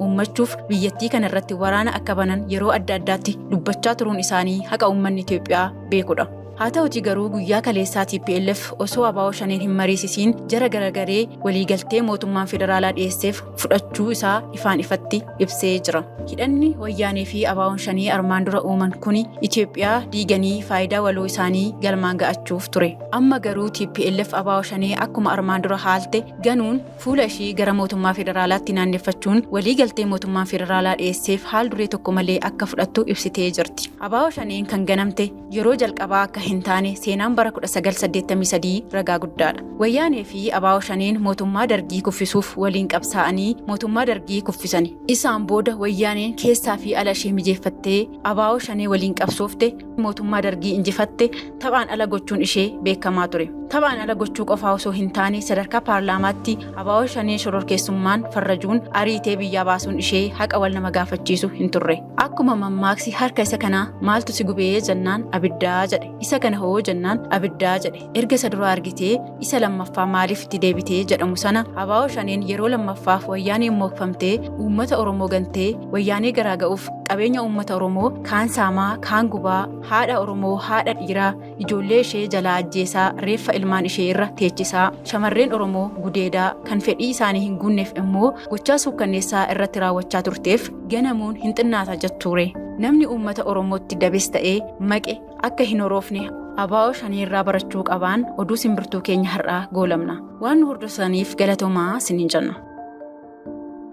uummachuuf biyyattii kana irratti waraana akka banan yeroo adda addaatti dubbachaa turuun isaanii haqa uummanni Itoophiyaa beekudha. Haa ta'uti garuu guyyaa kaleessaa TPLF osoo abaa'oo shaneen hin mariisisiin jara garagaree waliigaltee mootummaan federaalaa dhiyeesseef fudhachuu isaa ifaan ifatti ibsee jira. Hidhanni wayyaanee fi abaa'oon shanee armaan dura uuman kuni Itoophiyaa diiganii faayidaa waloo isaanii galmaan ga'achuuf ture. Amma garuu TPLF abaa'oo shanee akkuma armaan dura haalte ganuun fuula ishii gara mootummaa federaalaatti naanneffachuun walii galtee mootummaan federaalaa dhiyeesseef haal duree tokko malee akka fudhattu ibsitee jirti. Abaa'oo Shaneen kan ganamte yeroo jalqabaa akka hin taane seenaan bara 1983 ragaa guddaadha. Wayyaanee fi Abaa'oo Shaneen mootummaa dargii kuffisuuf waliin qabsaa'anii mootummaa dargii kuffisani. Isaan booda wayyaaneen keessaa fi ala ishee mijeeffattee Abaa'oo shanee waliin qabsoofte mootummaa dargii injifatte taphaan ala gochuun ishee beekamaa ture. Taphaan ala gochuu qofaa osoo hin taane sadarkaa paarlaamaatti abaa'oo shanee shororkeessummaan farrajuun ariitee biyyaa baasuun ishee haqa wal nama gaafachiisu hin turre. Akkuma mammaaksi harka isa kanaa maaltu si gubee jennaan abiddaa jedhe. Isa kana hoo jennaan abiddaa jedhe. erga isa duraa argitee isa lammaffaa maaliif itti deebitee jedhamu sana abaa'oo shaneen yeroo lammaffaaf wayyaanee mookfamtee uummata oromoo gantee wayyaanee garaa ga'uuf qabeenya uummata oromoo kaan saamaa kaan gubaa haadha oromoo haadha dhiiraa ijoollee ishee jalaa ajjeesaa reeffa ilmaan ishee irra teechisaa shamarreen oromoo gudeedaa kan fedhii isaanii hin guunneef immoo gochaa suukkanneessaa irratti raawwachaa turteef ganamuun hin xinnaata jettuure namni uummata oromootti dabes ta'ee maqe akka hin horoofne abaa'oo shanii irraa barachuu qabaan oduu simbirtuu keenya har'aa goolabna waan nu hordofsaniif galatomaa sinin jenna.